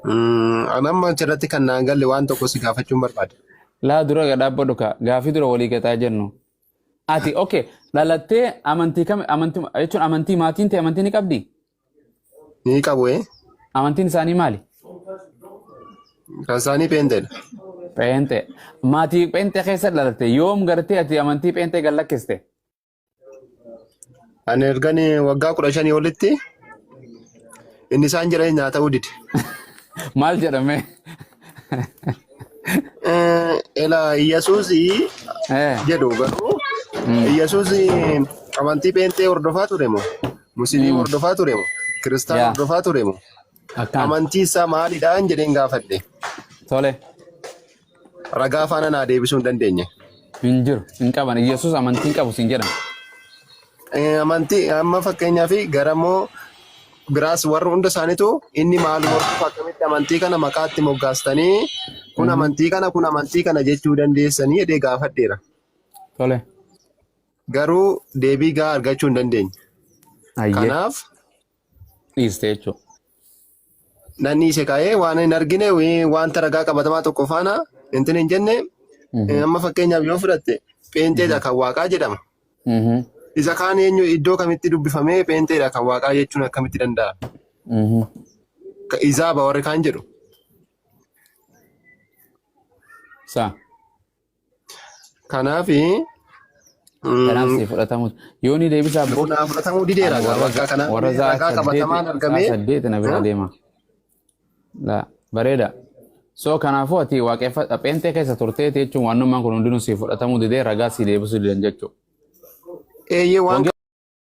Mm, An amma achirratti kan naan galle waan tokko si gaafachuun barbaada. Laa dura gadhaabba dhuka gaafii dura walii gataa jennu. Ati okay dhalattee amantii kam amantii jechuun amantii maatiin ta'e amantii ni qabdi? Ni qabu ee. Amantiin isaanii maali? Kan isaanii peenteedha. Pheenxee. Maatii pheenxee keessa dhalatte yoom gartee ati amantii pheenxee gallakkiste? Ani ergan waggaa kudha shanii olitti inni isaan jedhan naa ta'uu dide. Maal jedhame? Eh, Ela Iyyasuus Eh, jedhu garuu Iyyasuus amantii pheenxee hordofaa ture moo? Musiliim hordofaa ture moo? Kiristaan Yeah. hordofaa ture moo? Akkaan. Amantii isaa maalidhaan jedheen gaafadhe. Tole. Ragaa faana naa deebisuu hin dandeenye. Hin jiru. Hin qaban. Yesuus amantii hin qabu siin jedhan. Eh, Amantii amma fakkeenyaa fi garamoo biraas warri hunda isaaniitu inni maal morkuuf akkamitti amantii kana maqaatti moggaastanii kun amantii kana kun amantii kana jechuu dandeessanii jedhee gaafadheera. Tole. Garuu deebii gaa argachuu hin dandeenye. Ayyee. Kanaaf dhiiste jechuudha. Nan dhiise kaa'ee waan hin argine wii- wanta ragaa qabatamaa tokko faana intin hin jenne Mhm. amma fakkeenyaaf yoo fudhatte pheenxeedha kan waaqaa jedhama. Mhm. Isa kaan eenyu iddoo kamitti dubbifamee pheenxeedha kan waaqaa jechuun akkamitti danda'a? Mhm. Ka- Izaaba warri kaan jedhu. Saa. Kanaaf Kanaaf si fudhatamu. Yoo ni deebisaa bro. naa fudhatamuu dideera Ani gaa warra bakka kana warra zaa ragaa qabatamaan saddeeti argamee zaa saddeeti na bira deema. La bareeda. So kanaafuu ati waaqeffata pheenxee keessa turteeti jechuun waanummaan kun hundinuu si fudhatamuu didee ragaa si deebisuu didan jechuudha. eeyyee waan Wangeela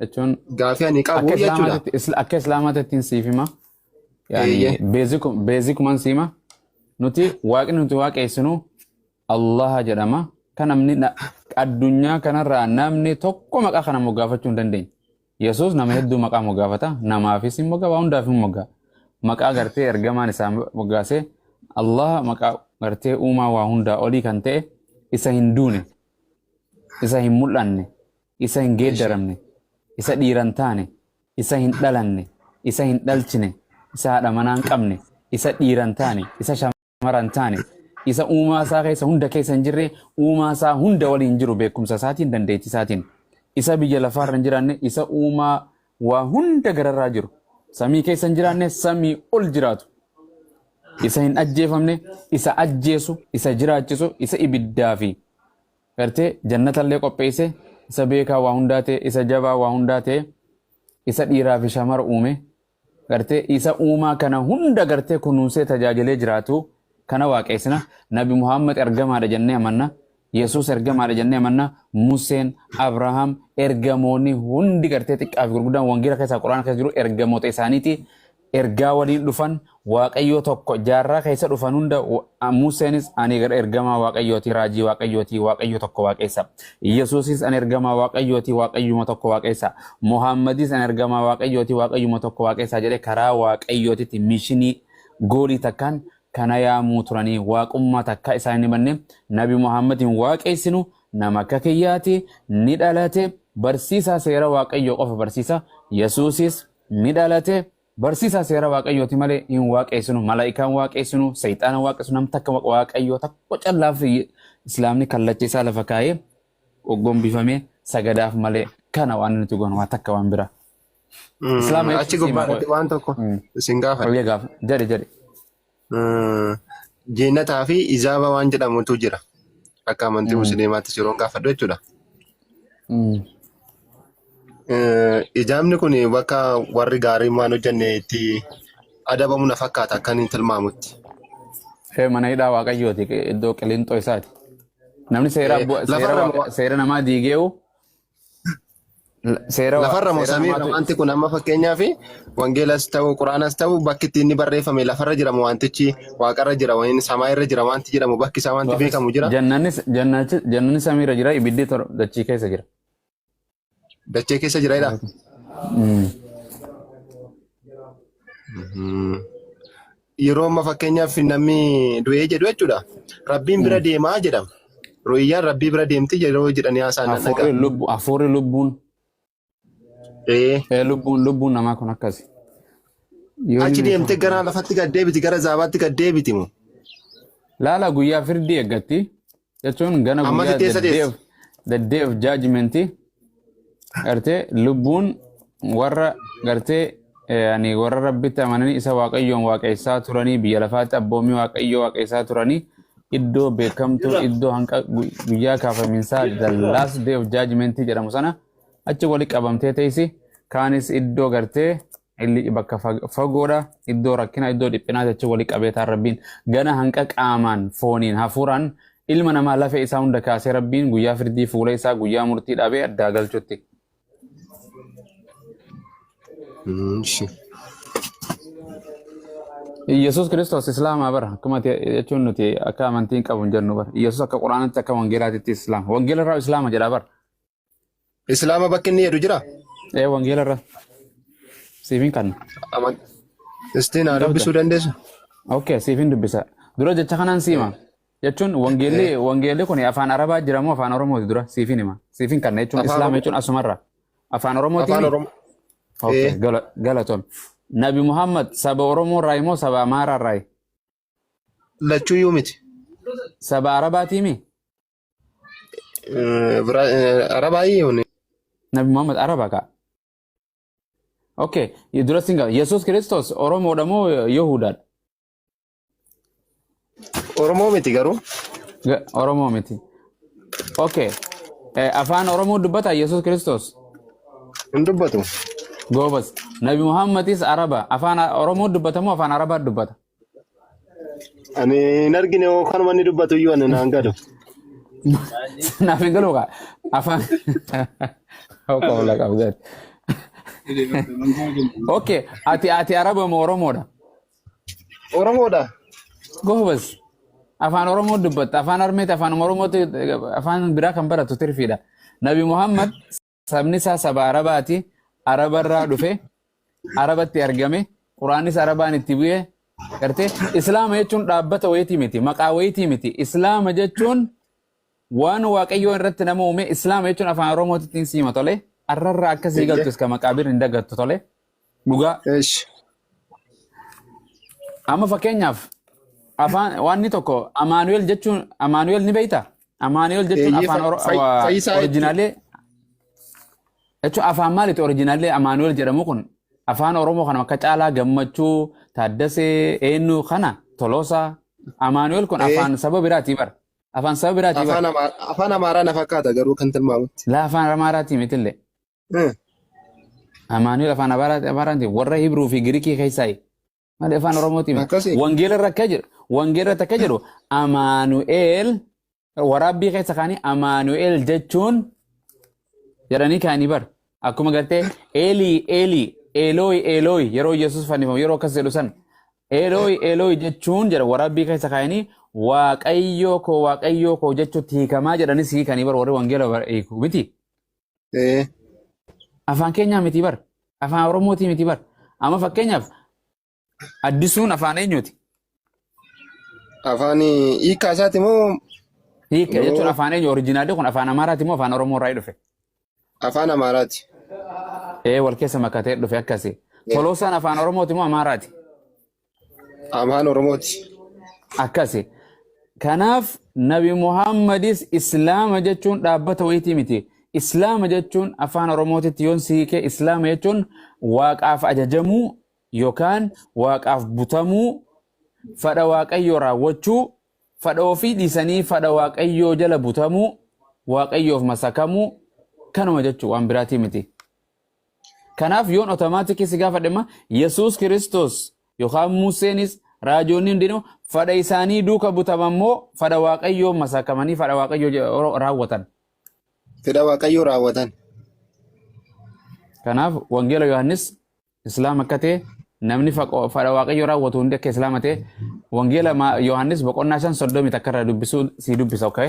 jechuun Gaafii ani akka qabu jechuudha. islaamaatti isla- akka islaamaatti ittiin siif hima yaani Eeyyee. beeziku- beezikumaan siima nuti waaqni nuti waaqeessinu allaha jedhama kan namni na- addunyaa kanarraa namni tokko maqaa kana moggaafachuu hin dandeenye yesuus nama hedduu maqaa moggaafata namaafis hin moggaa waa hundaaf hin moggaa maqaa gartee ergamaan isaa moggaasee allaha maqaa gartee uumaa waa hundaa olii kan ta'e isa hin duune isa hin mul'anne isa hin geeddaramne, isa dhiira hin taane, isa hin dhalanne, isa hin dhalchine, isa haadha manaa hin qabne, isa dhiira hin taane, isa shamara hin taane, isa uumaa isaa keessa hunda keessa hin jirre, uumaa isaa hunda waliin jiru beekumsa isaatiin, dandeettii isaatiin. Isa biyya lafaa irra hin jiraanne, isa uumaa waa hunda gararraa jiru. Samii keessa hin jiraanne, samii ol jiraatu. Isa hin ajjeefamne, isa ajjeesu, isa jiraachisu, isa ibiddaa fi gartee jannatallee qopheeyse isa beekaa waa hundaa ta'e isa jabaa waa hundaa ta'e isa dhiiraa fi shamara uume gartee isa uumaa kana hunda gartee kunuunsee tajaajilee jiraatu kana waaqeessina nabi muhammad ergamaadha jennee amanna yesuus ergamaadha jennee amanna museen abrahaam ergamoonni hundi gartee xiqqaa fi gurguddaan wangeela keessaa quraana keessa jiru ergamoota isaaniiti ergaa waliin dhufan Waaqayyoo tokko jaarraa keessa dhufan hunda Museenis ani ergamaa Waaqayyooti raajii Waaqayyooti Waaqayyo tokko waaqeessa Yesuusis ani ergamaa Waaqayyooti Waaqayyuma tokko waaqeessa Muhaammadis ani ergamaa Waaqayyooti Waaqayyuma tokko waaqeessa jedhee karaa Waaqayyootitti mishinii goolii takkaan kana yaamuu turanii waaqummaa takkaa isaan hin himanne nabi Muhaammad hin waaqeessinu nama akka kiyyaati ni dhalate barsiisaa seera Waaqayyoo qofa barsiisa Yesuusis ni dhalate barsiisaa seera waaqayyooti malee hin waaqeessinu malaa'ikaan waaqeessinu seexaana waaqessu nam takka waqa- waaqayyoo tokko callaaf islaamni kallacha isaa lafa kaa'ee gombifamee sagadaaf malee kana waan nuti goonu waa takka waan biraa Mm, islaama achi jechuun siima gubbaarratti waan tokko Mm. isin gaafadha. Fayyaa gaafa. Jedhe jedhe. Jeennataa fi izaaba waan jedhamutu jira. Akka amantii musliimaatti yeroo gaafadhu jechuudha. Ijaabni kun bakka warri gaariin waan hojjenne itti adabamu na fakkaata akka inni tilmaamutti. Ishee mana hidhaa waaqayyooti iddoo qilinxoo isaati. Namni seera seera namaa diigeewu Seera Lafarra moo seera samiirra namaatu wanti kun amma fakkeenyaaf wangeelas ta'u quraanas ta'u bakki itti inni barreeffame lafarra jira moo wantichi waaqarra jira wayini samaayirra jira wanti jedhamu bakki isaa wanti Gaaffichi beekamu jira jannanis jannachi jannani samiirra jira ibiddi tor dachii keessa jira. dachee keessa jira jedha. Mm. Mhm. yeroo amma fakkeenyaaf namni du'ee jedhu jechuudha. Rabbiin bira deemaa jedhama. Ru'iyyaan rabbii bira deemti yeroo jedhanii haasaan nan dhagaa. Hafuurri lubbu hafuurri lubbuun Ee, ee, lubbuun lubbuun namaa kun akkasi. Yoo Achi inni deemtee gara lafatti gad deebiti gara zaabaatti gad deebiti moo? laala guyyaa firdii eeggatti jechuun gana Ammas guyyaa itti eessa the day of deessa? the day of judgment gartee lubbuun warra gartee eh, ani warra rabbitti amananii isa waaqayyoon waaqessaa turanii biyya lafaatti abboommii waaqayyoo waaqessaa turanii iddoo beekamtuu iddoo hanqa gu- guyyaa kaafaminsaa the last day of judgment jedhamu sana achi wali qabamtee teessi kaanis iddoo gartee Illici bakka fagoodha. Iddoo rakkinaa, iddoo dhiphinaa jechuun walii qabeetaan Rabbiin gana hanqa qaamaan, fooniin, hafuuraan ilma namaa lafee isaa hunda kaasee Rabbiin guyyaa firdii fuula isaa guyyaa murtii dhaabee addaa galchutti. Yesuus Kiristoos Islaamaa bara akkuma jechuun nuti akka amantiin qabu hin jennu bara. Yesuus akka Quraanaatti akka Wangeelaatitti Islaama. Wangeela irraa Islaama jedha bara. Islaama bakki inni jedhu jira? Ee wangeela irra siifin kanna. Aman. Istiin haa Qabda. dubbisuu dandeessu? Okay, siifin dubbisa. Dura jecha kanaan siima. Jechuun wangeelli wangeelli kun afaan Arabaa jira moo afaan Oromooti dura siifin hima. Siifin kanna jechuun Afaan Islaama Oromoo. jechuun asumarra. Afaan Oromooti. Afaan Oromoo. Okay, Ee. gala- galatoom. Nabi Muhammad saba Oromoo irraa moo saba Amaaraa irraa? Lachuu iyyuu miti. Saba Arabaatii mi? Arabaa hiyyuun. Nabi Muhammad Araba kaa. Okay, dura sin gaafadha. Yesuus Kiristoos Oromoodha moo Yihudaadha? Oromoo miti garuu. Ga- Oromoo miti. Okay. Eh, Afaan Oromoo dubbata Yesuus Kiristoos. Hin dubbatu. Goobas. Nabi Muhammadis Araba. Afaan Oromoo dubbata moo afaan Arabaa dubbata? Ani hin argine hoo kan wanni dubbatu iyyuu ani naan galu. Naaf hin galuu kaa. Afaan. Hawqa ola qabdan. Okay. Ati ati Araba moo Oromoodha? Oromoodha. Goobas. Afaan Oromoo dubbatta. Afaan Armeeti afaan Oromootti afaan biraa kan baratu tirfiidha. Nabi Muhammad sabni isaa saba arabaati araba irraa dhufe arabatti argame quraanis arabaan itti bu'e gartee islaama jechuun dhaabbata wayitii miti maqaa wayitii miti islaama jechuun waan waaqayyoo irratti nama uume islaama jechuun afaan oromootiin siima tole arrarraa akkasii galtu iska maqaabir hin dagattu tole Dhugaa. Eesh. Amma fakkeenyaaf afaan wanni tokko Amaanu'eel jechuun Amaanu'eel ni beektaa? Amaanu'eel jechuun Eeyyee, afaan fa- oro- fa- wa- fayyisaa jechuudha. orijinaalee jechuun afaan maaliiti orijinaalee Amaanu'eel jedhamu kun afaan Oromoo kana akka caalaa gammachuu taaddasee eenyu kana toloosaa Amaanu'eel kun Ee. afaan saba biraatii bara afaan saba biraatii bara Afaan Amaa- afaan Amaaraa na fakkaata garuu kan tilmaamutti. laa afaan Amaaraatii mitillee Eh, Amaanu'el afaan Abaaraati Abaaraanti warra Hibruu fi Girikii keessaa malee afaan Oromooti miti. Akkasii. Wangeela irra akka jedhu wangeela irratti akka jedhu Amaanu'el waraabbii keessa kaanii Amaanu'el jechuun jedhanii kaanii bar. Akkuma gartee Eelii Eelii Eelooyi Eelooyi yeroo Yesuus fannifamu yeroo akkas jedhu san Eelooyi Eelooyi jechuun jedha waraabbii keessa kaanii Waaqayyoo koo Waaqayyoo koo jechuutti hiikamaa jedhanis hiikanii bar warri wangeela bar- hiiku miti. Ee. Afaan keenyaa miti bar. Afaan Oromootii miti bar. Amma fakkeenyaaf addisuun afaan eenyuuti? Afaan hiikaa isaati moo Hiika jechuun Yoo- afaan eenyu orijinaalii kun afaan Amaaraati moo afaan Oromoo irraa dhufe? afaan Amaaraati? Ee wal keessa makatee dhufe akkasi. Toloosaan afaan Oromooti moo Amaaraati? Amaan Oromooti. akkasi. Kanaaf Nabi Muhaammadis Islaama jechuun dhaabbata wayitii miti. Islaama jechuun afaan Oromootitti yoon si hiike Islaama jechuun waaqaaf ajajamuu yookaan waaqaaf butamuu fadha waaqayyoo raawwachuu fadha ofii dhiisanii fadha waaqayyoo jala butamuu waaqayyoof masakamuu kanuma jechuun waan biraatii miti. Kanaaf yoon otomaatikii si gaafadhe immoo Yesuus Kiristoos yookaan Museenis raajoonni hundinuu fadha isaanii duuka butaman moo fadha Waaqayyoo masaakamanii fadha Waaqayyoo je- ro- raawwatan. Fedha Waaqayyoo raawwatan. Kanaaf wangeela Yohaannis Islaama akka ta'e namni faqo- fadha Waaqayyoo raawwatu hundi akka Islaama ta'e wangeela ma- Yohaannis boqonnaa shan soddomii takka irraa dubbisuu si dubbisa okay?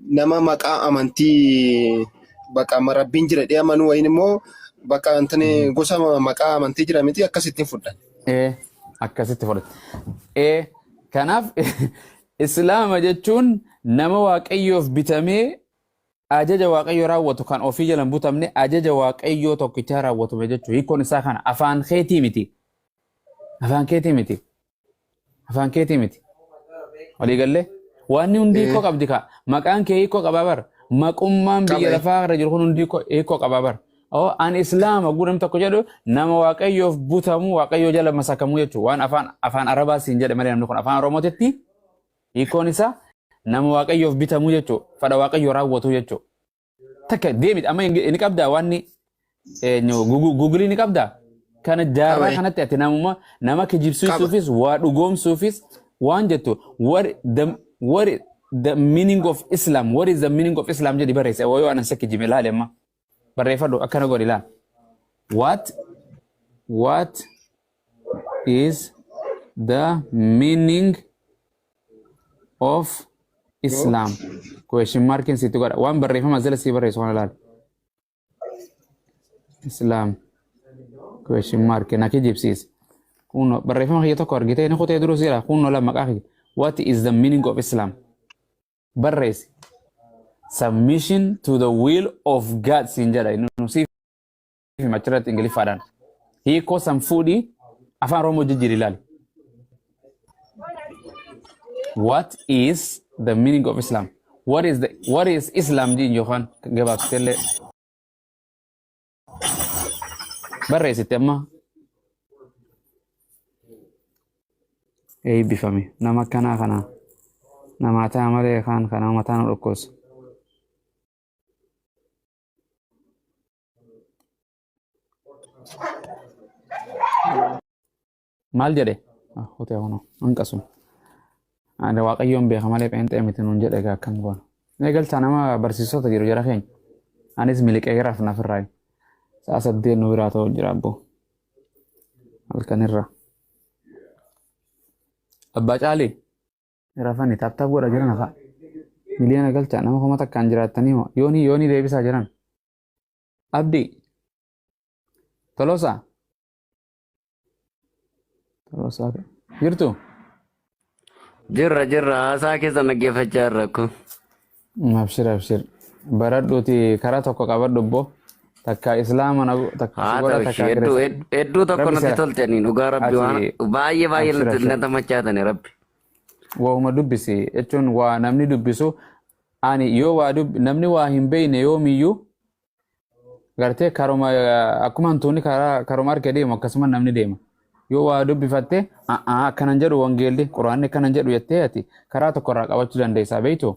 nama maqaa amantii baqa ma- rabbiin jira jedhee amanuu wayin immoo baqa intini Mhm. gosa ma- maqaa amantii jira miti akkasittiin fudhan. Ee, akkasitti fudhate. Ee, kanaaf islaama jechuun nama waaqayyoof bitamee ajaja waaqayyoo raawwatu kan ofii jalan butamne ajaja waaqayyoo tokkichaa raawwatume jechuudha. Hiikkoon isaa kana afaan keetii miti. Afaan keetii miti. Afaan keetii miti. Walii gallee. Waanni hundi hiikoo Eh. qabdi kaa. Maqaan kee hiikoo qabaa bar. Maqummaan biyya Qaba, eh. lafaa irra jiru kun hundi hiikoo- hiikoo qabaa bar. Oo, An Islaama guu namni tokko jedhu nama waaqayyoof butamu waaqayyoo jala masakamuu jechuudha. Waan afaan afaan Arabaa siin jedhe malee namni kun afaan Oromootitti hiikoon isaa nama waaqayyoof bitamu jechuudha. Fedha waaqayyoo raawwatu jechuudha. takka deemit amma hin- ni qabdaa waan ni eenyu gugu- gugulii ni qabdaa kana jaarraa Qabee. kanatti ati namuma nama kijibsiisuufis waa dhugoomsuufis waan jettu what the what is the meaning of islam what is the meaning of islam jedhi barreesse yoo yoo anan si kijibe ilaali amma barreeffadhu akkana godhi ilaali what what is the meaning of Islam. Question markin sitti godha. Waan barreeffama as jala sii barreessu kana ilaali. Islam. Question mark na kijibsiisa. Kunno barreeffama kiyya tokko argitee inni kutee duruu siira kunno lama maqaa kiyya. What is the meaning of Islam? Barreessi. Submission to the will of God siin jedha. Inni nu siif fi machirratti ingiliffaadhaan hiikoo san fuudhii afaan oromoo jijjiiri ilaali. What is the meaning of Islam? What is the what is Islam diin yookaan gabaabsitee barreessitte amma eebbifame nama akkanaa kanaa namaa ta'a malee kaan kanaa mataa nu dhukkubsa. maal jedhe hote hono hanqasu ada waaqayyoon beeka malee pheenxee miti nuun jedhe egaa akkam goona eegalchaa nama barsiisota jiru jara keenya anis miliqee garaaf naaf irraa sa'a saddeet nu biraa ta'u jira abboo halkanirraa abbaa caalii rafani taaptaap godha jiran hafaa miliyoona galchaa nama kuma takkaan jiraattanii hoo yoonii yoonii deebisaa jiran Abdi. Tolosa. Tolosa. Jirtu. Jirra jirra haasaa keessa dhaggeeffachaa jirra kun. Abshir abshir. Baradhuuti karaa tokko qabadhu obbo. Takka islaama na takka Haa sugora ta'u takka ishee hedduu kirista. hed- hedduu tokko Rabbi natti sira. toltanii dhugaa rabbi waan Ati baay'ee baay'ee abshir natti abshir. natti machaatanii rabbi. Waa'uma dubbisi jechuun waa namni dubbisu Ani yoo waa dub namni waa hin beeyne yoomiyyuu gartee karuma akkuma hantuunni karaa karuma harkee deemu akkasuma namni deema. Yoo waa dubbifatte a'aa akkanan jedhu wangeelli quraanni akkanan jedhu jettee ati karaa tokko irraa qabachuu dandeessaa beeytu.